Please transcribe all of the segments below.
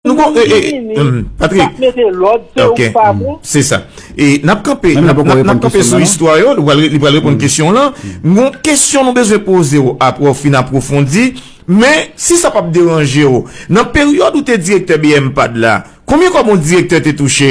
Nou bon, e, e, e, Patrick. Sa mete lòd, se ou pa bon. Se sa. E, nap kanpe, nap kanpe sou istwa yo, li pral reponn kesyon lan. Mwen, kesyon nou bezwen poze yo, apre ou fin aprofondi, men, si sa pap deranje yo, nan peryòd ou te direktè BMPAD la, konbyen kòb yon direktè te touche?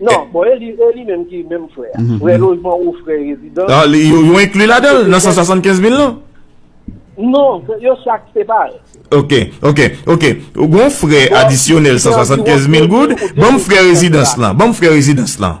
Non, bon e li e li menm ki menm frè a. Frè lojman ou frè rezidans. Ah, li yo yo inclus la dan nan 175 mil lan? Non, yo chak separe. Ok, ok, ok. Ou gon frè adisyonèl 175 mil goud, banm frè rezidans lan, banm frè rezidans lan.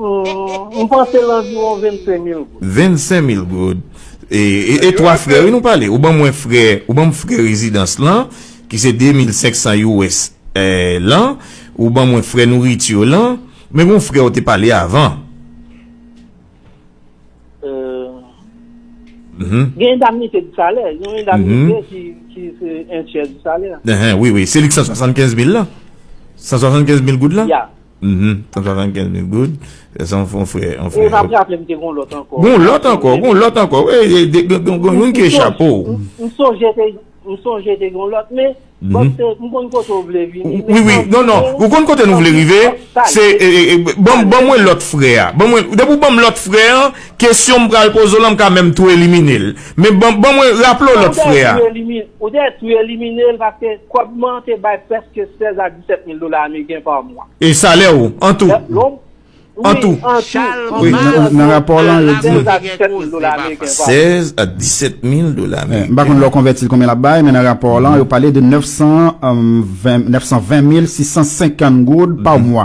M panse l anviwon 25 mil goud. 25 mil goud. E 3 frè wi nou pale. Ou ban mwen frè, ou ban m frè rezidans lan, ki se 2500 US lan. Ou ban mwen frè nourriture lan. Men gon frè ou te pale avan. Gen endamnite di salè. Yon endamnite ki se entyè di salè. Wi, wi. Se li ki 175 mil lan? 175 mil goud lan? Ya. Uhmm ton satan gen de good se on fon frè on frè. Ou tap raple m te gon lot anko. Gon lot anko gon lot anko wi gon yon ki echape w. M sonje te m sonje te gon lot men bon se m konn kote w vle vini. Wi wi non non ou konn kote nou vle rive se bon bon mwen lot frè a bon mwen depi w ban m lot frè an kesyon m pral poze w lan m ka menm tou elimine l men bon bon mwen raple w lot frè a. Ou te tou elimine l paske kòb man te bay preske 16 ak. 7 mil dola ameriken pa mwa. E salè ou, an tou. Lè w. An tou. Wi, an tou. Wi, an tou. Nan rapò w lan, yo di. 16 a 17 mil dola ameriken pa mwa. 16 a 17 mil dola ameriken. M pa konn lè w konvèti l konbyen l ap bay, men nan rapò w lan, yo pale de 920 mil 650 goud pa mwa.